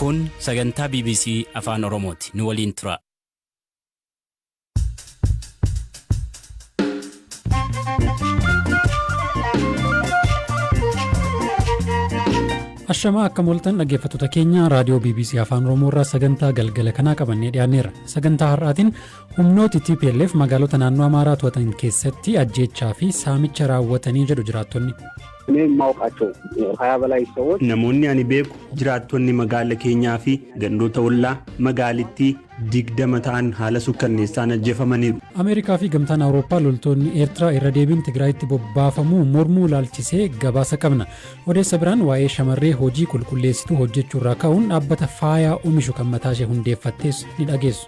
Kun sagantaa bbc Afaan Oromooti. Nu waliin turaa. Ashamaa akka moltan dhaggeeffattoota keenya raadiyoo bbc Afaan Oromoo irraa sagantaa galgala kanaa qabannee dhiyaanneerra. Sagantaa har'aatiin humnooti TPLF magaalota naannoo Amaaraa to'atan keessatti ajjeechaa fi saamicha raawwatanii jedhu jiraattonni. Namoonni ani beeku jiraattonni magaala keenyaa fi gandoota ollaa magaalittii digdama ta'an haala sukkanneessaan ajjeefamaniiru. Ameerikaa fi Gamtaan Awurooppaa loltoonni Eertiraa irra deebiin Tigraayitti bobbaafamuu mormuu ilaalchisee gabaasa qabna. Odeessa biraan waa'ee shamarree hojii qulqulleessituu hojjechuurraa ka'uun dhaabbata faayaa omishu kan mataashee hundeeffattes ni dhageessu.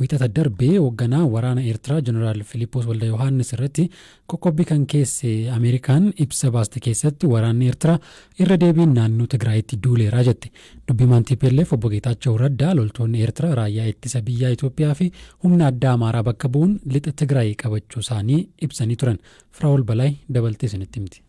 Wiixata darbe hogganaa waraana Eertiraa Jeneraal Filiiphoos Waldayohaannis irratti qoqqobbii kan keesse Ameerikaan ibsa baaste keessatti waraanni Eertiraa irra deebiin naannoo Tigraayitti duuleera jette. Dubbi himaan tplf Obbo Geetaachaw Raddaa loltoonni Eertiraa raayyaa ittisa biyyaa Itoophiyaa fi humna addaa Amaaraa bakka bu'uun lixa Tigraay qabachuusaanii ibsanii turan. Firaa'ol Balaay dabaltee isinitti himti.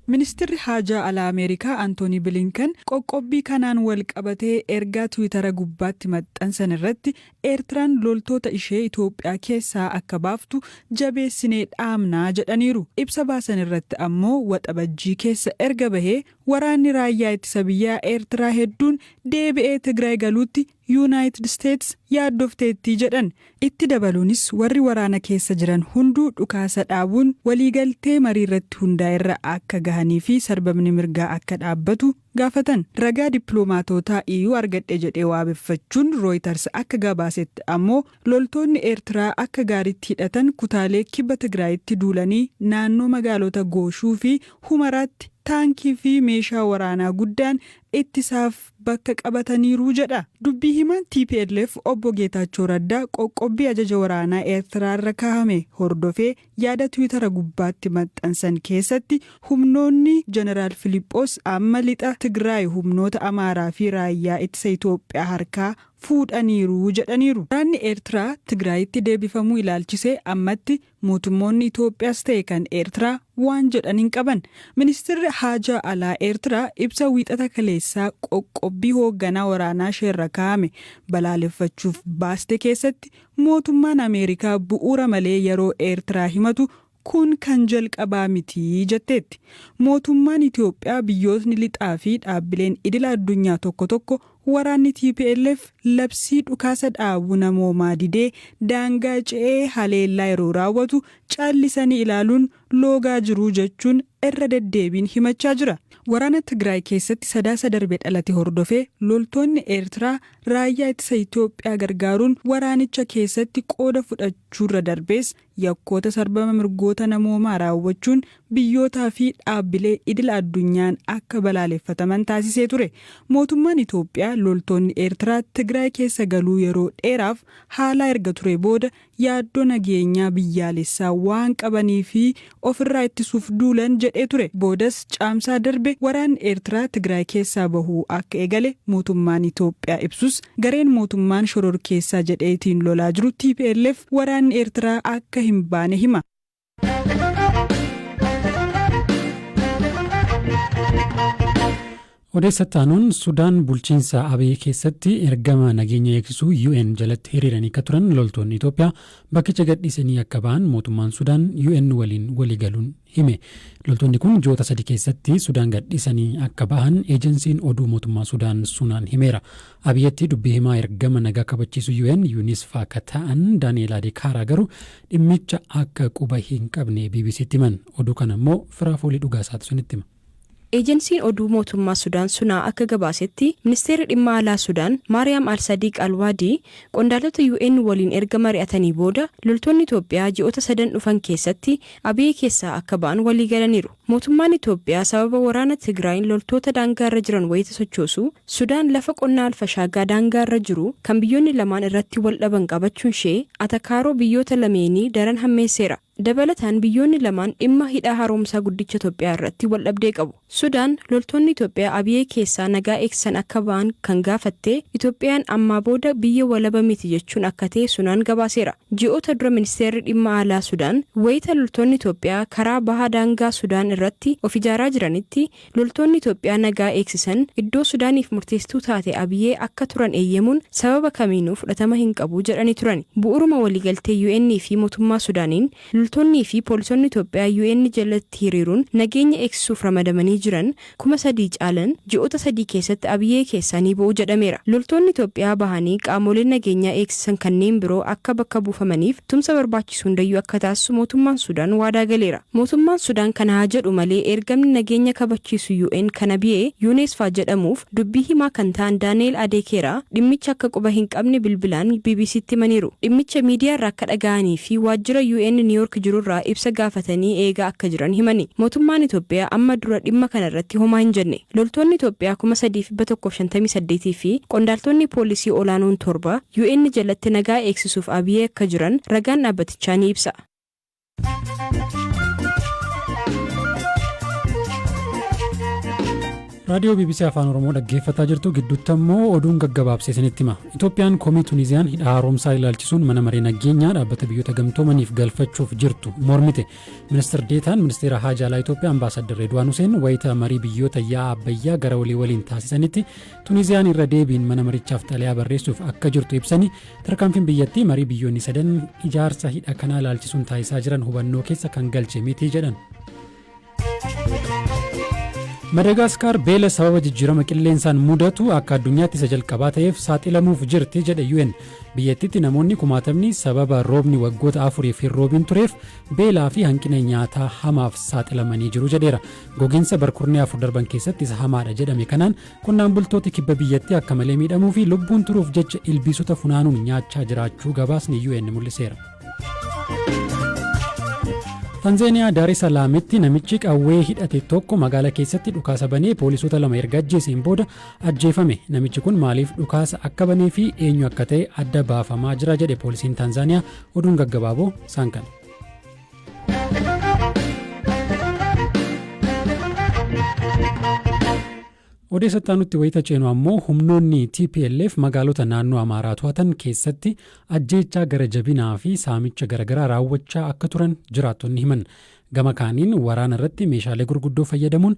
Ministirri Haajaa Alaa Ameerikaa Antoonii Bilinken qoqqobbii kanaan walqabatee ergaa Tiwiitara gubbaatti maxxansan irratti, Eertiraan loltoota ishee Itoophiyaa keessaa akka baaftu jabeessinee dhaamna jedhaniiru. Ibsa baasan irratti ammoo Waxabajjii keessa erga bahee waraanni Raayyaa Ittisa Biyyaa Eertiraa hedduun deebi'ee Tigraay galuutti Yuunaayitid Isteets yaaddofteetti jedhan. Itti dabaluunis warri waraana keessa jiran hunduu dhukaasa dhaabuun waliigaltee mariirratti hundaa'erra akka gahanii fi sarbamni mirgaa akka dhaabbatu gaafatan. Ragaa dippiloomaatootaa EU argadhe jedhee waabeffachuun Rooyitars akka gabaasetti ammoo loltoonni Eertiraa akka gaariitti hidhatan kutaalee kibba Tigraayitti duulanii naannoo magaalota Gooshuu fi Humaraatti taankii fi meeshaa waraanaa guddaan ittisaaf bakka qabataniiru jedha. Dubbii himaan tplf Obbo Geetaachoo Raddaa qoqqobbii ajaja waraanaa Eertiraa irra kaahame hordofee yaada Tiwitara gubbaatti maxxansan keessatti humnoonni Jeneraal Filiphoos amma lixa Tigraay humnoota Amaaraa fi Raayyaa Ittisa Itoophiyaa harkaa fuudhaniiru jedhaniiru. Waraanni Eertiraa Tigraayitti deebifamuu ilaalchisee ammatti Mootummoonni Itoophiyaas ta'e kan Eertiraa waan jedhan hin qaban. Ministirri Haajaa Alaa Eertiraa ibsa Wiixata kaleessaa qoqqobbii hoogganaa waraanaa isheerra kaa'ame balaaleffachuuf baaste keessatti mootummaan Ameerikaa bu'uura malee yeroo Eertiraa himatu kun kan jalqabaa miti jetteetti. Mootummaan Itoophiyaa biyyootni lixaa fi dhaabbileen idila addunyaa tokko tokko Waraanni tplf labsii dhukaasa dhaabu namoomaa didee daangaa ce'ee haleellaa yeroo raawwatu caallisanii ilaaluun loogaa jiru jechuun irra deddeebiin himachaa jira. Waraana Tigraay keessatti Sadaasa darbe dhalate hordofee loltoonni Eertiraa raayyaa ittisa Itoophiyaa gargaaruun waraanicha keessatti qooda fudhachuurra darbees yakkoota sarbama mirgoota namoomaa raawwachuun biyyootaa fi dhaabbilee idila addunyaan akka balaaleffataman taasisee ture. Mootummaan Itoophiyaa loltoonni Eertiraa Tigraay keessa galuu yeroo dheeraaf haalaa erga turee booda yaaddoo nageenyaa biyyaalessaa waan qabanii fi ofirraa ittisuuf duulan jedhee ture. Boodas Caamsaa darbe waraanni Eertiraa Tigraay keessaa bahuu akka eegale mootummaan Itoophiyaa ibsus, Gareen mootummaan shororkeessaa jedhee itiin lolaa jiru tplf waraanni Eertiraa akka hin baane hima. Odeessa itti aanuun Sudaan bulchiinsa Abiy keessatti ergama nageenya eegsisuu UN jalatti hiriiranii akka turan loltoonni Itoophiyaa bakkicha gadhiisanii akka ba'an mootummaan Sudaan UN waliin waliigaluun hime. Loltoonni kun ji'oota sadi keessatti Sudaan gadhiisanii akka bahan eejansiin oduu mootummaa Sudaan Sunaan himeera. Abiyetti dubbii himaa ergama nagaa kabachiisu UN Yunisfaa ka ta'an Daani'eel Adekaaraa garuu dhimmicha akka quba hin qabne BBCtti himan. Oduu kana immoo Firaafoolii Dhugaasaatu isinitti hima. Eejansiin oduu mootummaa Sudaan Sunaa akka gabaasetti, Ministeerri Dhimma Alaa Sudaan, Maariyaam Al-Sadiiq Al-Waadii, qondaalota UN waliin erga mari'atanii booda, loltoonni Itoophiyaa ji'oota sadan dhufan keessatti Abiyee keessaa akka ba'an waliigalaniiru. Mootummaan Itoophiyaa sababa waraana Tigraayin loltoota daangaarra jiran wayita sochoosu, Sudaan lafa qonnaa Al-Fashaagaa daangaarra jiru kan biyyoonni lamaan irratti wal dhaban qabachuunshee atakaaroo biyyoota lameenii daran hammeesseera. Dabalataan biyyoonni lamaan dhimma Hidha Haaromsaa Guddicha Itoophiyaa irratti waldhabdee qabu. Sudaan loltoonni Itoophiyaa Abiyee keessaa nagaa eegsisan akka ba'an kan gaafatte Itoophiyaan ammaa booda biyya walaba miti jechuun akka ta'e Sunaan gabaaseera. Ji'oota dura Ministeerri Dhimma Alaa Sudaan wayita loltoonni Itoophiyaa karaa baha daangaa Sudaan irratti of ijaaraa jiranitti, Loltoonni Itoophiyaa nagaa eegsisan iddoo Sudaaniif murteessituu taate Abiyee akka turan eeyyamuun sababa kamiinuu fudhatama hin qabu jedhanii turani. Bu'uuruma waliigaltee UN fi motummaa Sudaaniin loltoonnii fi poolisonni Itoophiyaa UN jalatti hiriiruun nageenya eegsisuuf ramadamanii jiran 3,000 caalan ji'oota sadii keessatti Abiyee keessaa ni ba'u jedhameera. Loltoonni Itoophiyaa bahanii qaamooleen nageenyaa eegsisan kanneen biroo akka bakka buufamaniif Tumsa barbaachisu hundayyuu akka taasisu mootummaan Sudaan waadaa galeera. Mootummaan Sudaan kana haa jedhu malee ergamni nageenya kabachiisu UN kan Abiyee Yuuneesfaa jedhamuuf dubbii himaa kan ta'an Daani'eel Adeekeeraa dhimmicha akka quba hin qabne bilbilaan BBC'tti himaniiru. Dhimmicha miidiyaarraa akka dhaga'anii fi waajjira UN Niiwoork jirurraa ibsa gaafatanii eegaa akka jiran himani. Mootummaan Itoophiyaa amma dura dhimma kanarratti homaa hin jenne. Loltoonni Itoophiyaa 3,158 fi qondaaltonni poolisii olaanoon torba UN jalatti nagaa eegsisuuf Abiye akka jiran ragaan dhaabbatichaa ni ibsa. raadiyoo bbc afaan oromoo dhaggeeffataa jirtu gidduutti ammoo oduun gaggabaabsee isinitti hima itoophiyaan komii tuniziyaan hidha haaromsaa ilaalchisuun mana maree nageenyaa dhaabbata biyyoota gamtoomaniif galfachuuf jirtu mormite Ministir Deetaan Ministeera Haajaa Alaa Itoophiyaa Ambaasaaddar Reedwaan Huseen wayita marii biyyoota yaa'a Abbayyaa gara olii waliin taasisanitti Tuniiziyaan irra deebiin mana marichaaf xalayaa barreessuuf akka jirtu ibsanii tarkaanfiin biyyattii marii biyyoonni sadan ijaarsa hidha kanaa ilaalchisuun taasisaa jiran hubannoo keessa kan galche miti jedhan. Madagaaskaar beela sababa jijjiirama qilleensaan mudatu akka addunyaatti isa jalqabaa ta'eef saaxilamuuf jirti jedhe UN. Biyyattiitti namoonni kumaatamni sababa roobni waggoota afuriif hin roobiin tureef beelaa fi hanqina nyaataa hamaaf saaxilamanii jiru jedheera. Goginsa barkurnee afur darban keessatti isa hamaadha jedhame kanaan qonnaan bultooti kibba biyyattii akka malee miidhamuu fi lubbuun turuuf jecha ilbiisota funaanuun nyaachaa jiraachuu gabaasni UN mul'iseera. Tanzeeniyaa Daarii Salaamitti namichi qawwee hidhate tokko magaala keessatti dhukaasa banee poolisoota lama erga ajjeeseen booda ajjeefame. Namichi kun maaliif dhukaasa akka banee fi eenyu akka ta'e adda baafamaa jira jedhe poolisiin Taanzaaniyaa oduun gaggabaaboo isaan kana. Odeessattaa nutti wayita ceenu ammoo humnoonni TPLF magaalota naannoo Amaaraa to'atan keessatti ajjeechaa gara jabinaa fi saamicha garaagaraa raawwachaa akka turan jiraattonni himan. Gama kaaniin waraana irratti meeshaalee gurguddoo fayyadamuun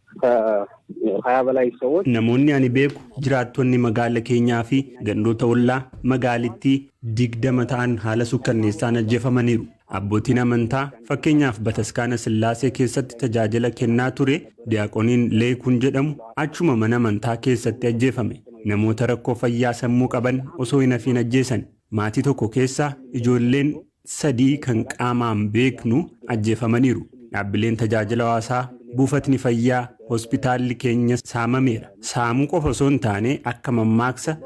Namoonni ani beeku jiraattonni magaala keenyaa fi gandoota ollaa magaalittii 20 ta'an haala sukkanneessaan ajjefamaniiru. Abbootiin amantaa fakkeenyaaf Bataskaana Sillaasee keessatti tajaajila kennaa ture Diyaaqoniin Leeykuun jedhamu achuma mana amantaa keessatti ajjeefame. Namoota rakkoo fayyaa sammuu qaban osoo hin hafiin ajjeesan. Maatii tokko keessaa ijoolleen sadii kan qaamaan beeknu ajjeefamaniiru. Dhaabbileen tajaajila hawaasaa, buufatni fayyaa, hospitaalli keenya saamameera. Saamuu qofa osoo hin taane akka mammaaksa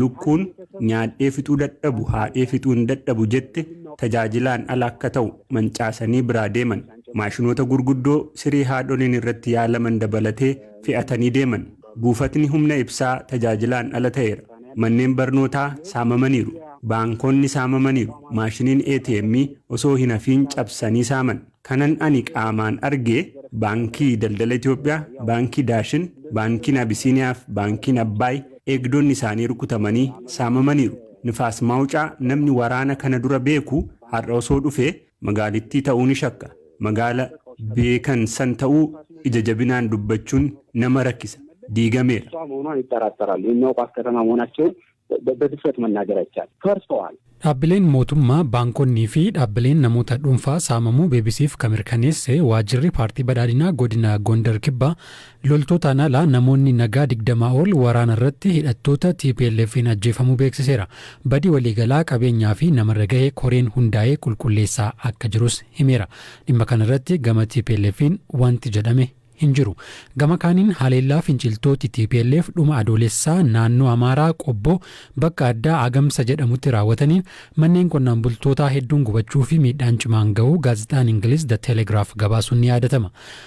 lukkuun nyaadhee fixuu dadhabu haadhee fixuu hin dadhabu jette tajaajilaan ala akka ta'u mancaasanii biraa deeman. Maashinoota gurguddoo siree haadholiin irratti yaalaman dabalatee fe'atanii deeman. Buufatni humna ibsaa tajaajilaan ala ta'eera. Manneen barnootaa saamamaniiru. Baankonni saamamaniiru. Maashiniin ATM osoo hin hafiin cabsanii saaman. Kanan ani qaamaan arge Baankii Daldala Itoophiyaa, Baankii Daashin, Baankiin Abisiiniyaa fi Baankiin Abbaay eegdonni isaanii rukutamanii saamamaniiru. Nifaas Maawucaa namni waraana kana dura beeku har'a osoo dhufee Magaalittii ta'uu ni shakka. Magaala beekan san ta'uu ija jabinaan dubbachuun nama rakkisa. Diigameera. Dhaabbileen mootummaa, baankonnii fi dhaabbileen namoota dhuunfaa saamamuu BBC'f ka mirkaneesse waajjirri Paartii Badhaadhinaa Godina Gondar Kibbaa, Loltootaan ala namoonni nagaa 20 ol waraana irratti hidhattoota TPLFn ajjeefamuu beeksiseera. Badii waliigalaa qabeenyaa fi namarra gahe koreen hundaa'ee qulqulleessaa akka jirus himeera. Dhimma kana irratti gama TPLFn wanti jedhame hin jiru. Gama kaaniin haleellaa finciltooti tplf dhuma Adoolessaa naannoo Amaaraa Qobbo bakka addaa Agamsa jedhamutti raawwataniin manneen qonnaan bultootaa hedduun gubachuu fi miidhaan cimaan gahuu gaazexaan Ingiliz The Telegraph gabaasuun ni yaadatama.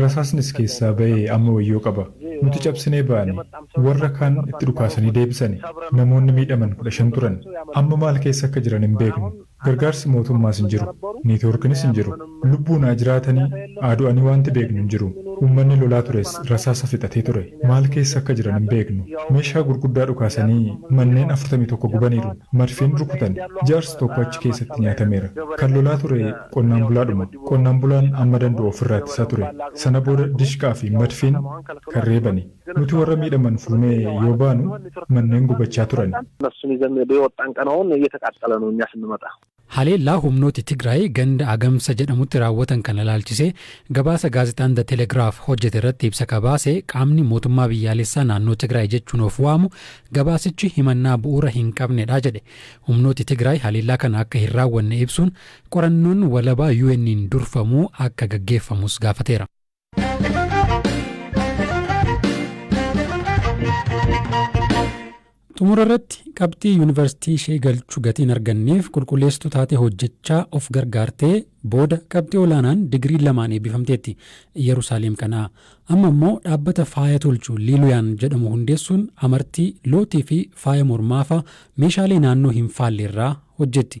Rasaasnis keessaa ba'e amma wayyoo qaba. Nuti cabsinee baane. Warra kaan itti dhukaasanii deebisani. Namoonni miidhaman kudha shan turan. Amma maal keessa akka jiran hin beeknu. Gargaarsi mootummaas hin jiru. Neetwoorkinis hin jiru. Lubbuun haa jiraatanii haa du'anii waanti beeknu hin jiru. Uummanni lolaa tures rasaasa fixatee ture. Maal keessa akka jiran hin beeknu. Meeshaa gurguddaa dhukaasanii manneen afurtamii tokko gubaniiru. Madfiin rukutani. Jaarsi tokko achi keessatti nyaatameera. Kan lolaa ture. Qonnaan bulaadhuma. Qonnaan bulaan amma dand'u of irraa ittisaa ture. Sana booda dishqaa fi madfiin kan reebani. Nuti warra miidhaman fuunee yoo baanu manneen gubachaa turani. Haleellaa humnooti Tigraay ganda Agamsa jedhamutti raawwatan kana ilaalchisee gabaasa gaazexaan The Telegraph hojjete irratti ibsa ka baase qaamni Mootummaa Biyyaalessaa Naannoo Tigraay jechuun of waamu gabaasichi himannaa bu'uura hin qabnedha jedhe. Humnooti Tigraay haleellaa kana akka hin raawwanne ibsuun Qorannoon walabaa UNn durfamu akka gaggeeffamus gaafateera. Xumura irratti qabxii yuunivarsiitii ishee galchu gatii hin arganneef qulqulleessituu taatee hojjechaa of gargaartee booda qabxii olaanaan digirii lamaan eebbifamteetti Iyyerusaalem kanaa. Amma immoo dhaabbata faaya tolchu Liiluyaan jedhamu hundeessuun amartii, lootii fi faaya mormaafaa meeshaalee naannoo hin faallerraa hojjetti.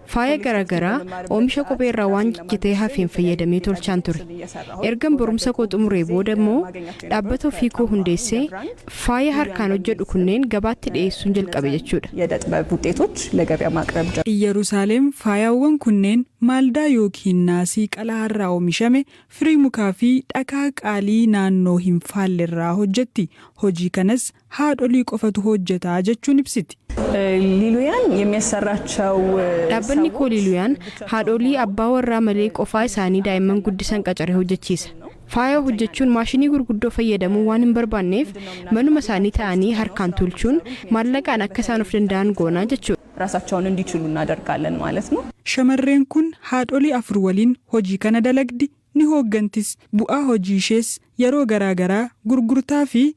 Faaya gara garaa oomisha kophee irraa waan jijjitee hafeen fayyadamee tolchaan ture. Ergan barumsa koo xumuree booda immoo dhaabbata ofii koo hundeessee faaya harkaan hojjedhu kunneen gabaatti dhiyeessuun jalqabe jechuudha. Iyyarusaaleem faayaawwan kunneen maaldaa yookiin naasii qalaa irraa oomishame, firii mukaa fi dhakaa qaalii naannoo hin faalle irraa hojjetti. Hojii kanas haadholii qofatu hojjeta jechuun ibsiti. Liluyaan yemiyassarraachau Dhaabbanni koo Liluyaan haadholii abbaa warraa malee qofaa isaanii daa'imman guddisan qacaree hojjechiisa. Faaya hojjechuun maashinii gurguddoo fayyadamuu waan hin barbaanneef manuma isaanii ta'anii harkaan tuulchuun maallaqaan akka isaan of danda'an goona jechuudha. Raasachaun indichilu innadargaalan maalet no. Shamarreen kun haadholii afur waliin hojii kana dalagdi, ni hooggantis. Bu'aa hojii ishees yeroo garaa garaa gurgurtaa fi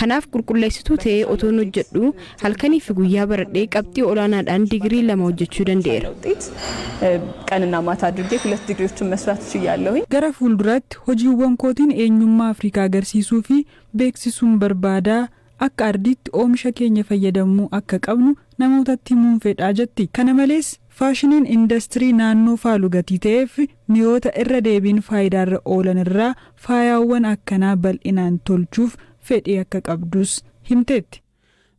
Kanaaf qulqulleessituu ta'ee otoon hojjedhuu halkanii fi guyyaa baradhee qabxii olaanaadhaan digirii lama hojjechuu danda'eera. Gara fuulduraatti hojiiwwan kootiin eenyummaa Afrikaa agarsiisuu fi beeksisuun barbaada, akka ardiitti oomisha keenya fayyadamuu akka qabnu namootatti himuun fedha, jetti. Kana malees, Faashiniin indastirii naannoo faalu gatii ta'eef mi'oota irra deebiin faayidaarra oolan irraa faayaawwan akkanaa bal'inaan tolchuuf fedhii akka qabdus himteetti.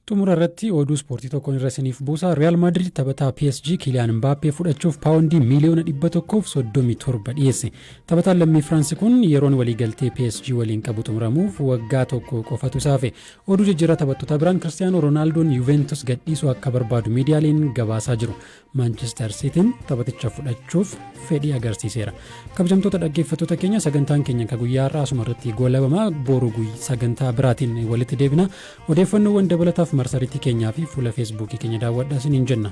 Xumura irratti oduu ispoortii tokkon irra isiniif buusa. Riyaal Maadriid taphataa PSG Kiiliyaan Mbaappee fudhachuuf paawondii miiliyoona 137 dhiyeesse. Taphataan lammii Firaansi kun yeroon waliigaltee PSG waliin qabu xumuramuuf waggaa tokko qofatu isa hafe. Oduu jijjiirraa taphattotaa biraan Kiristiyaanoo Roonaaldoon Yuuveentus gadhiisuu akka barbaadu miidiyaaleen gabaasaa jiru. Maanchister Siitiin taphaticha fudhachuuf fedhii agarsiiseera. Kabajamtoota dhaggeeffattoota keenya sagantaan keenya akka guyyaa har'aa asuma irratti goolabama boru sagantaa biraatiin walitti deebina. Odeeffannoowwan dabalataaf marsariitii keenyaa fi fuula feesbuukii keenya daawwadhaa isiniin jenna.